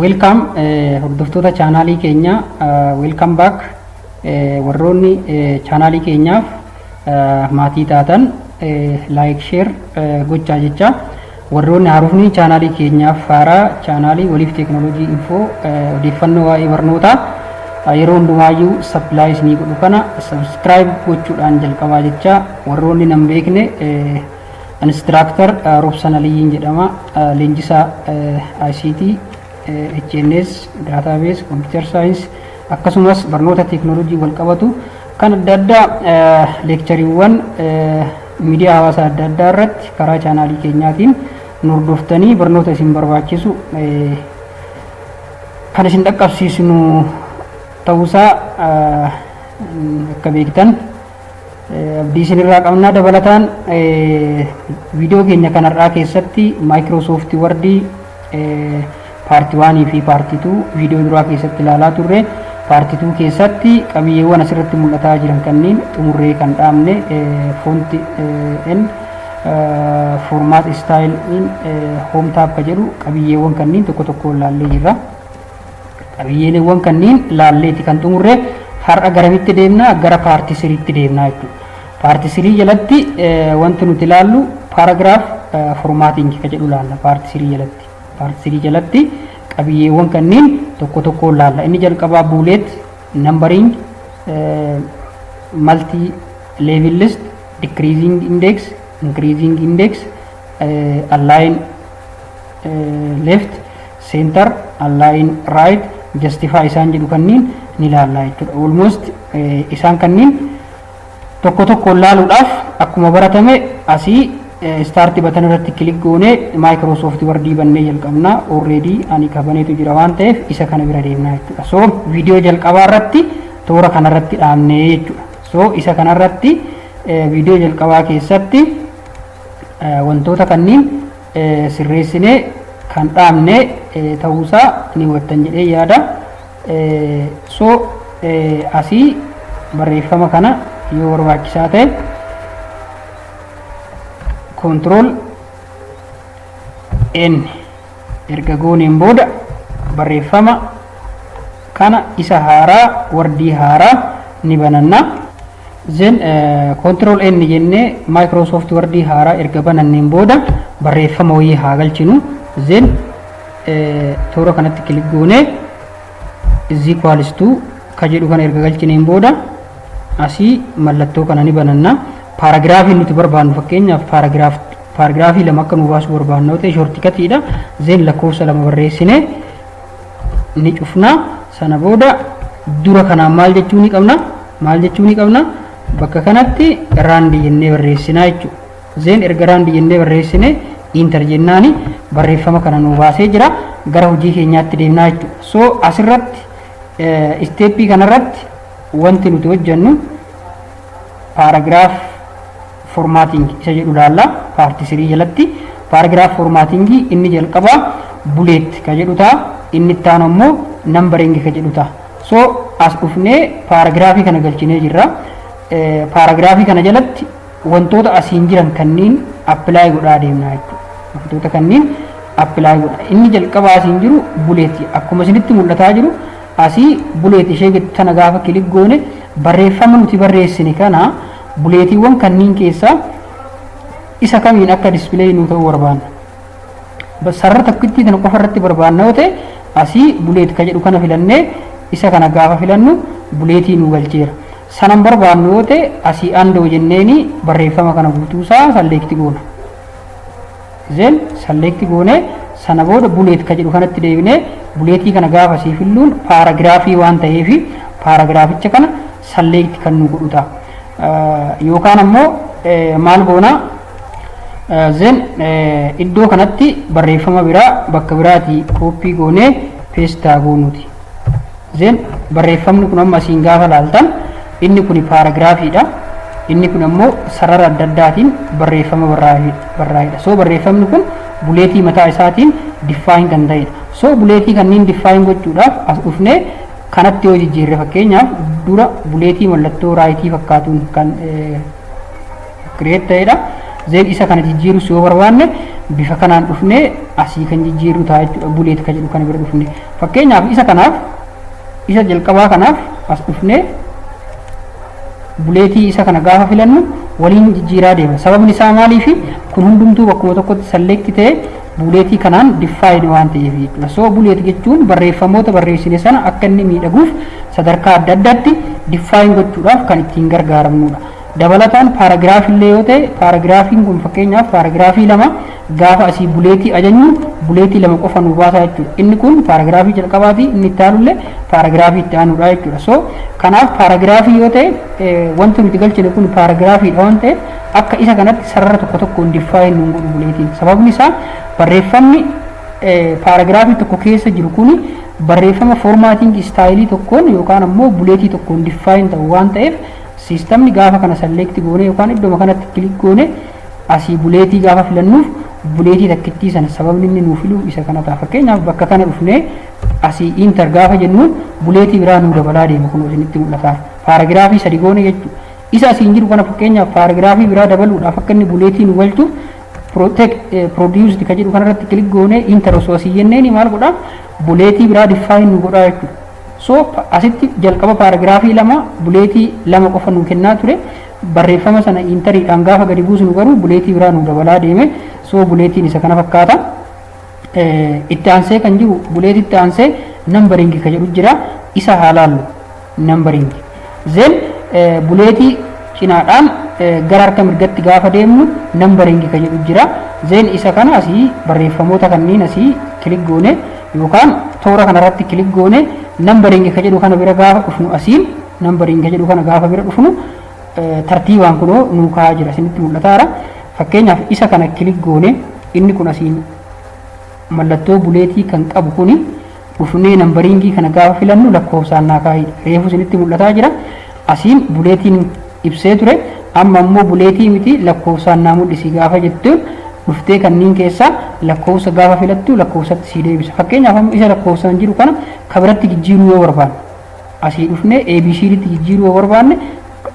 Weelkaam hordoftoota chaanaalii keenyaa weelkaam baak warroonni chaanaalii keenyaaf maatii taatan laayik sheer gochaa jecha warroonni haarofni chaanaalii keenyaaf haaraa chaanaalii waliif teeknooloojii infoo odeeffannoo waa'ee barnootaa yeroo hundumaayyuu sappilaayii isinii godhu kana sabiskiraayib gochuudhaan jalqabaa jecha warroonni nan beekne Instructor Robsan Aliyyiin jedhama. Leenjisaa ICT, HNS, Database, Computer Science akkasumas barnoota teeknooloojii wal qabatu kan adda addaa leekchariiwwan miidiyaa hawaasaa adda addaa irratti karaa chaanaalii keenyaatiin nu hordoftanii barnoota isin barbaachisu kan isin dhaqqabsiisnu ta'uusaa akka beektan abdii isinirraa qabnaa dabalataan viidiyoo keenya kanarraa keessatti maayikiroosoofti wardii paartii waanii fi paartii tuu viidiyoo duraa keessatti ilaalaa turre paartii tuu keessatti qabiyyeewwan asirratti mul'ataa jiran kanneen xumurree kan dhaabne foonti n formaat istaayil in hoom taappa jedhu qabiyyeewwan kanneen tokko tokko ilaallee jirra. Qabiyyeeleewwan kanniin laalleeti kan xumurre har'a garamitti deemna gara paarti siriitti deemna jechuudha. Paarti sirii jalatti wanti nuti laallu paaragiraaf formaatingi ka jedhu laalla paarti sirii jalatti. Paarti sirii jalatti qabiyyeewwan kanniin tokko tokkoon laalla. Inni jalqabaa buuleet, nambariing, malti leevil list, dikiriiziing indeeks, inkiriiziing indeeks, allaayin left center align right justify isaan jedhu kanniin ni laallaa jechuudha almost isaan kanniin tokko tokkoon laaluudhaaf akkuma baratame asii start batan irratti kilik goone Microsoft Word bannee jalqabna already ani kabaneetu jira waan ta'eef isa kana bira deemna jechuudha so viidiyoo jalqabaa irratti toora kana irratti dhaabne jechuudha so isa kana irratti viidiyoo jalqabaa keessatti wantoota kanniin sirreessinee kan dhaabne ta'uusaa ni hubattan jedhee yaada. So asii barreeffama kana yoo barbaachisaa ta'e control n erga gooneen booda barreeffama kana isa haaraa wardii haaraa ni bananna. Zen control N jennee Microsoft Word haaraa erga bananneen booda barreeffama wayii haa galchinu. Zen toora kanatti kilik goonee is equals to ka jedhu kana erga galchineen booda asii mallattoo kana ni bananna. Paaragiraafii nuti barbaannu fakkeenyaaf paaragiraafii lama akka nu baasuu barbaannu yoo ta'e shortikatiidha. Zen lakkoofsa lama barreessinee ni cufna sana booda dura kanaan maal jechuu ni qabna maal jechuu ni qabna bakka kanatti raandi jennee barreessinaa jechuudha. Zeen erga raandi jennee barreessine intar jennaani barreeffama kana nuu baasee jira gara hojii keenyaatti deemnaa jechuudha. So asirratti isteeppii kanarratti wanti nuti hojjennu paaragiraaf formatting isa jedhu ilaalla part 3 jalatti paragraph formatting inni jalqaba bullet ka jedhu ta'a inni itti aanu ammoo numbering ka jedhu ta'a so as dhufnee paragraph kana galchinee jirra paragraph kana jalatti wantoota asiin jiran kanniin apply godhaa deemna jechuudha wantoota kanniin apply godha inni jalqaba asiin jiru bullet akkuma isinitti mul'ataa jiru asii bullet ishee tana gaafa kilik goone barreeffama nuti barreessine kana Buleetiiwwan kanniin keessaa isa kamiin akka display nuu ta'uu barbaanna. Ba- Sarara tokkittii tana qofa irratti barbaanna yoo ta'e asii buleet ka jedhu kana filannee isa kana gaafa filannu buleetii nuu galcheera. Sanan barbaannu yoo ta'e asii andoo jenneeni barreeffama kana guutuusaa salleekti goona. Then select goone sana booda bullet ka jedhu kanatti deebinee buleetii kana gaafa sii filluun paaragiraafii waan ta'eef paaragiraaficha kana select kan nu godhu ta'a. Eh, Yookaan ammoo eh, maal goona Eh, then eh, iddoo kanatti barreeffama biraa bakka biraatii kooppii goonee peestaa goonuuti. Zeen barreeffamni kun amma asiin gaafa laaltan inni kun paaragiraafiidha. Inni kun ammoo sarara adda addaatiin barreeffama barraa'edha. So barreeffamni kun buleetii mataa isaatiin diffaayin kan ta'edha. So buleetii kanneen diffaayin gochuudhaaf as dhufnee kanatti yoo jijjiirre fakkeenyaaf dura buleetii mallattoo raayitii fakkaatuun kan create ta'edha. Zeen isa kana jijjiirus yoo barbaanne bifa kanaan dhufnee asii kan jijjiirru ta'a jechuudha. Buleet kan jedhu kana bira dhufne. Fakkeenyaaf isa kanaaf isa jalqabaa kanaaf as dhufnee buleetii isa kana gaafa filannu waliin jijjiiraa deema. Sababni isaa maaliif kun hundumtuu bakkuma tokkotti salleekti ta'e buleetii kanaan diffaayini waan ta'eef jechuudha. So buleet jechuun barreeffamoota barreessine sana akka inni miidhaguuf sadarkaa adda addaatti diffaayin gochuudhaaf kan ittiin gargaaramnudha. Dabalataan paaragiraaf illee yoo ta'e paaragiraafiin kun fakkeenyaaf paaragiraafii lama gaafa asii buleetii ajajnu buleetii lama qofa nu baasaa jechuudha. Inni kun paaragiraafii jalqabaati inni itti aanu illee paaragiraafii itti aanudha jechuudha. So kanaaf paaragiraafii yoo ta'e wanti nuti galchine kun paaragiraafiidha waan ta'eef akka isa kanatti sarara tokko tokkoon diffaayin nuun godhu buleetiin. Sababni isaa barreeffamni paaragiraafii tokko keessa jiru kun barreeffama foormaatiin istaayilii tokkoon yookaan ammoo buleetii tokkoon diffaayin ta'u waan ta'eef Siistamni gaafa kana select goone yookaan iddoma kanatti click goone asii buleetii gaafa filannuuf buleetii takkittii sana sababni inni nuu filuuf isa kana ta'a. Fakkeenyaaf bakka kana dhufnee asii inter gaafa jennu buleetii biraa nuu dabalaa deema kun isinitti mul'ata. Paaragiraafii sadi goone jechuudha. Isa asiin jiru kana fakkeenyaaf paaragiraafii biraa dabaluudhaaf akka inni buleetii nu galchuuf produced ka jedhu kanarratti click goone inter osoo asii jenneeni maal godhaa buleetii biraa define nu godhaa jechuudha. Soop asitti jalqaba paaragiraafii lama buleetii lama qofa nuu kennaa ture. Barreeffama sana iintariidhaan gaafa gadi buusnu garuu buleetii biraa nuu dabalaa deeme. Soo buleetiin isa kana fakkaata. Itti aansee kan jiru buleetitti aansee nambariingi ka jedhu jira. Isa haa laallu. Nambariingi. Then buleetii cinaadhaan gara harka mirgatti gaafa deemnu numbering ka jedhu jira. Then isa kana asii barreeffamoota kanneen asii kilik goone yookaan toora kanarratti kilik goone numbering ka jedhu kana bira gaafa dhufnu asiin numbering ka jedhu kana gaafa bira dhufnu tartiibaan kunoo nuu kaa'aa jira isinitti mul'ataara. Fakkeenyaaf isa kana kilik goone inni kun asiin mallattoo buleetii kan qabu kuni dhufnee nambariingii kana gaafa filannu lakkoofsaan naa kaa'idha. Reefu isinitti mul'ataa jira. Asiin buleetiin ibsee ture. Amma ammoo buleetii miti lakkoofsaan naa mul'isi gaafa jettu dhuftee kanneen keessaa lakkoofsa gaafa filattu lakkoofsatti sii deebisa. Fakkeenyaaf amma isa lakkoofsaan jiru kana ka biratti jijjiiruu yoo barbaanne asii dhufnee ABCDtti jijjiiruu yoo barbaanne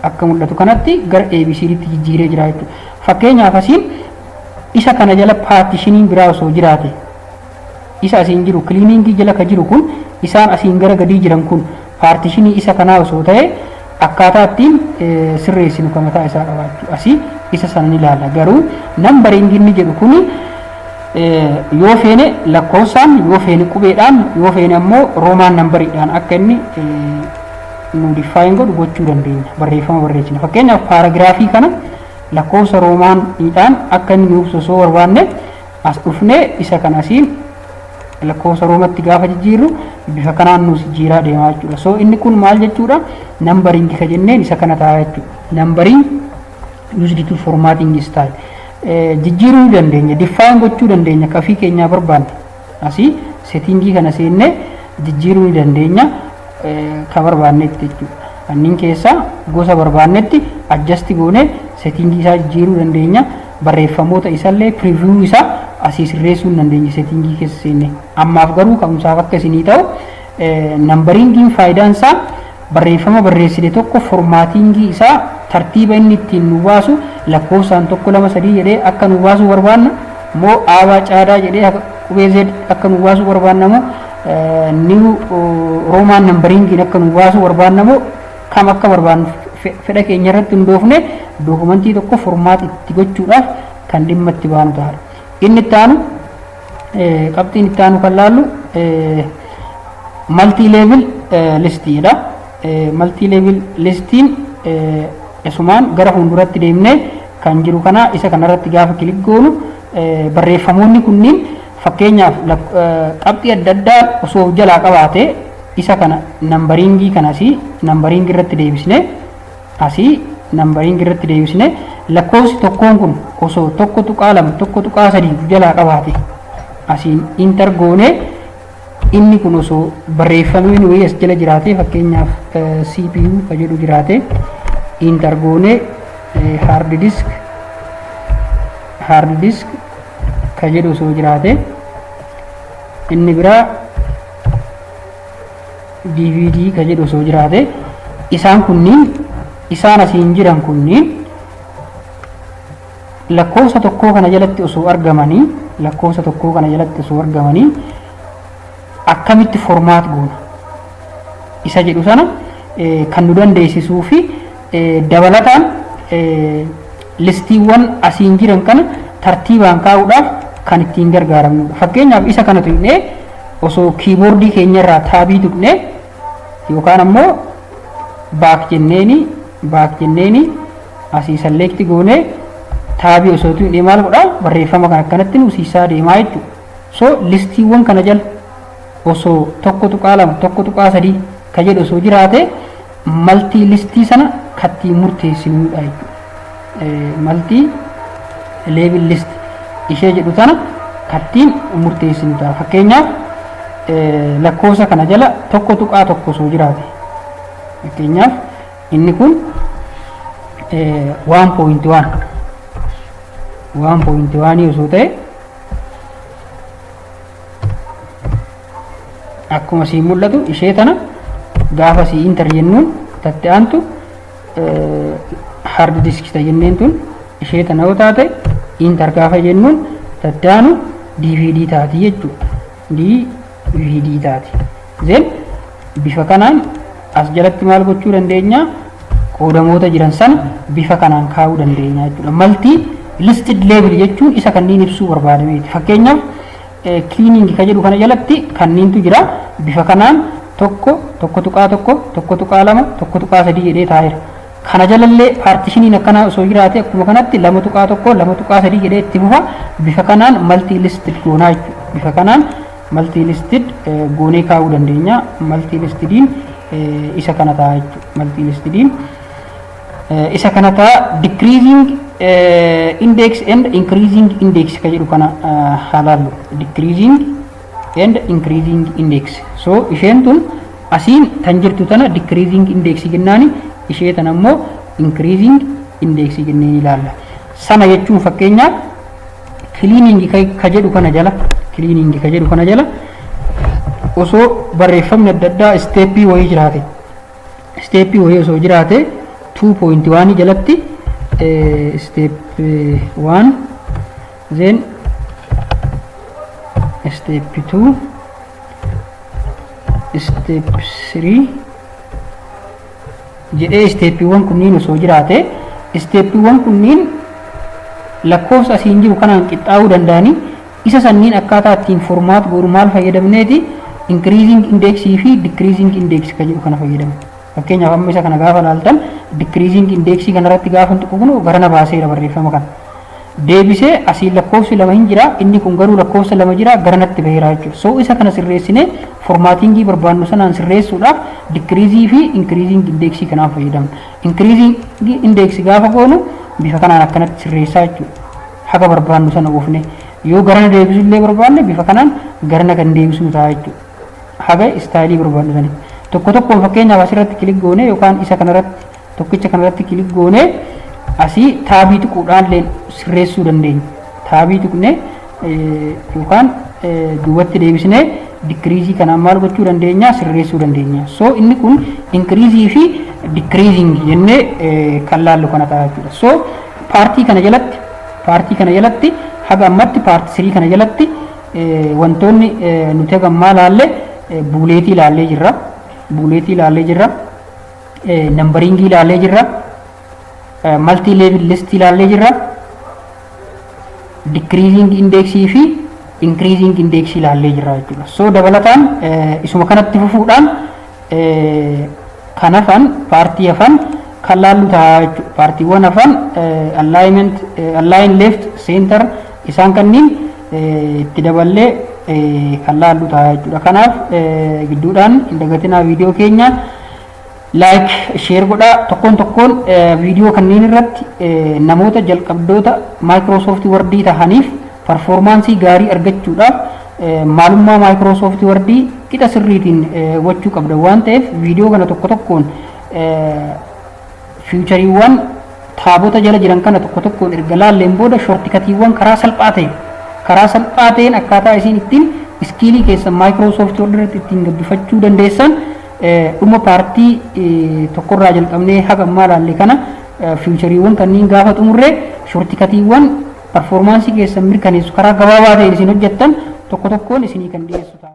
akka mul'atu kanatti gara ABCDtti jijjiiree jira jechuudha. Fakkeenyaaf asiin isa kana jala paartishiniin biraa osoo jiraate isa asiin jiru cleaning jala ka jiru kun isaan asiin gara gadii jiran kun paartishinii isa kanaa osoo ta'e akkaataa ittiin sirreessinu ka mataa isaa qabaachuu asii isa sana ni ilaalla garuu nambariing inni jedhu kun yoo feene lakkoofsaan yoo feene qubeedhaan yoo feene ammoo roomaan nambariidhaan akka inni nu diffaayin godhu gochuu dandeenya barreeffama barreessina fakkeenyaaf paaragiraafii kana lakkoofsa roomaaniidhaan akka inni nuuf osoo barbaanne as dhufnee isa kan asiin lakkoofsa roomatti gaafa jijjiirru bifa kanaan nuus jijjiiraa deemaa jechuudha. So inni kun maal jechuudha? Nambariingi ka jenneen isa kana ta'a jechuudha. Nambariin used to formatting style. Jijjiiruu ni dandeenya. Diffaayin gochuu dandeenya. Kafii keenyaa barbaanne. Asii seetingii kana seennee jijjiiruu ni dandeenya. Ka barbaannetti jechuudha. Kanneen keessaa gosa barbaannetti adjasti goonee seetingii isaa jijjiiruu dandeenya. barreeffamoota isallee preview isa asii sirreessuu hin dandeenya settingii keessa seenne ammaaf garuu ka'umsaaf akka isinii ta'u nambariingiin faayidaan isaa barreeffama barreessine tokko formaatiingii isaa tartiiba inni ittiin nu baasu lakkoofsaan tokko lama sadii jedhee akka nu baasuu barbaanna moo aabaa caadaa jedhee qubee z akka nu baasuu barbaanna moo niw roomaan nambariingiin akka nu baasuu barbaanna moo kam akka barbaadnu fedha keenya irratti hundoofne dookumantii tokko furmaata itti gochuudhaaf kan dhimma itti baanu ta'a. Inni itti aanu qabxiin itti aanu kan laallu maltii leevil listiidha. Maltii leevil listiin isumaan gara fuulduratti deemnee kan jiru kana isa kanarratti gaafa kilik goonu barreeffamoonni kunniin Fakkeenyaaf lak qabxii adda addaa osoo of jalaa qabaate isa kana nambariingii kana asii nambariingii irratti deebisne asii nambariingii irratti deebisne lakkoofsi tokkoon kun osoo tokko tuqaa lama tokko tuqaa sadii of jalaa qabaate asiin intar goone inni kun osoo barreeffamee inni wayii as jala jiraate fakkeenyaaf eh, CPU ka jedhu jiraate intar goone eh, hard disk hard disk ka jedhu osoo jiraate inni biraa dvd ka jedhu osoo jiraate isaan kunniin isaan asiin jiran kunniin lakkoofsa tokkoo kana jalatti osoo argamanii lakkoofsa tokkoo kana jalatti osoo argamanii akkamitti formaat goona isa jedhu sana kan nu dandeessisuu fi Dabalataan listiiwwan asiin jiran kana tartiibaan kaa'uudhaaf kan ittiin gargaaramnudha. Fakkeenyaaf isa kana tuqnee osoo kiiboordii keenyarraa taabii tuqnee yookaan ammoo baak jenneeni baak jenneeni asii salleekti goonee taabii osoo tuqnee maal godhaa barreeffama kan akkanatti nuusiisaa deemaa jechuudha. So listiiwwan kana jala osoo 1.2 1.3 ka jedhu osoo jiraate maltii listii sana kattiin murteessinuudha jechuudha maltii leebil listi ishee jedhu sana kattiin murteessinu ta'a fakkeenyaaf lakkoofsa kana jala 1.1 osoo jiraate fakkeenyaaf inni kun 1.1 1.1 osoo ta'e akkuma siin mul'atu ishee tana gaafa sii intar jennuun tatti aantu hard disk ta jenneen tun ishee tana yoo taate intar gaafa jennuun tatti aanu dvd taati jechuudha dvd taati Then bifa kanaan as jalatti maal gochuu dandeenya? Qoodamoota jiran sana bifa kanaan kaa'uu dandeenya jechuudha. Malti listed label jechuun isa kanneen ibsuu barbaadameeti. Fakkeenyaaf cleaning kan jedhu kana jalatti kanneentu jira. Bifa kanaan tokko, tokko tuqaa tokko, tokko tuqaa lama, tokko tuqaa sadii jedhee taa'eera. Kana jalallee paartishiniin akkanaa osoo jiraate akkuma kanatti lama tuqaa tokko, lama tuqaa sadii jedhee itti fufa. Bifa kanaan malti listed goonaa jechuudha. Bifa kanaan maltii listid goonee kaa'uu dandeenya maltii listidiin isa kana ta'a jechuudha maltii listidiin isa kana ta'a decreasing index and increasing index ka jedhu kana halaallu decreasing and increasing index so isheen tun asiin tan jirtu tana decreasing index jennaani ishee tana immoo increasing index jennee ilaalla sana jechuun fakkeenyaaf Kiliiningi ka jedhu kana jala kiliiningi ka jedhu kana jala osoo barreeffamni adda addaa isteeppii wayii jiraate isteeppii wayii osoo jiraate 2.1 jalatti step 1 then step 2 step 3 jedhee isteeppiiwwan kunniin osoo jiraate isteeppiiwwan kunniin lakkoofsa asiin jiru kanaan qixxaa'uu danda'anii isa sanniin akkaataa ittiin formaat goonu maal fayyadamneeti inkiriiziing indeeksii fi dikiriiziing indeeksii kan jedhu kana fayyadamu. Fakkeenyaaf amma isa kana gaafa laaltan dikiriiziing indeeksii kanarratti gaafa tuqu kun garana baaseera barreeffama kana. deebisee asiin lakkoofsi lama hin jira inni kun garuu lakkoofsa lama jira gara natti baheera jechuudha so isa kana sirreessinee formaatingii barbaannu sanaan sirreessuudhaaf dikiriizii fi inkiriiziing indeeksii kanaan fayyadamna inkiriiziing indeeksi gaafa goonu bifa kanaan akkanatti sirreessaa jechuudha haga barbaannu sana oofne yoo garana deebisu illee barbaanne bifa kanaan garana kan deebisnu ta'a jechuudha haga istaayilii barbaannu sana tokko tokkoon fakkeenyaaf asirratti kilik goone yookaan isa kanarratti Tokkicha kanarratti kilik goonee asii taabii tuquudhaan illee sirreessuu dandeenya. Taabii tuqnee yookaan duubatti deebisnee dikiriizii kanaan maal gochuu dandeenya sirreessuu dandeenya. So inni kun inkiriizii fi dikiriiziing jennee kan laallu kana ta'a jechuudha. So paartii kana jalatti paartii kana jalatti haga ammatti paartii sirii kana jalatti wantoonni nuti haga ammaa laalle buuleetii laallee jirra. Buuleetii laallee jirra. Nambariingii ilaallee jirra. Maltii leevil listii ilaallee jirra. Dikiriiziing indeeksii fi inkiriiziing indeeksii ilaallee jirra jechuudha. So dabalataan isuma kanatti fufuudhaan kan hafan paartii hafan kan laallu ta'a jechuudha. Paartiiwwan hafan alignment, align left, center isaan kanniin itti daballee kan laallu ta'a jechuudha. Kanaaf gidduudhaan hin dagatinaa viidiyoo keenya. like share godhaa tokkoon tokkoon viidiyoo kanneen irratti namoota jalqabdoota Microsoft Word tahaniif performaansii gaarii argachuudhaaf maalummaa Microsoft Word qixa sirriitiin gochuu qabda waan ta'eef viidiyoo kana tokko tokkoon fiichariiwwan taabota jala jiran kana tokko tokkoon erga laalleen booda shortikatiiwwan karaa salphaa ta'e karaa salphaa ta'een akkaataa isiin ittiin iskiilii keessan Microsoft Word irratti ittiin gabbifachuu dandeessan Dhuma paartii tokkorraa jalqabnee haga ammaa ilaalle kana fiichariiwwan kanneen gaafa xumurre shortikatiiwwan parfoormaansii keessan mirkaneessu karaa gabaabaa ta'een isin hojjettan tokko tokkoon isinii kan dhiyeessu ta'a.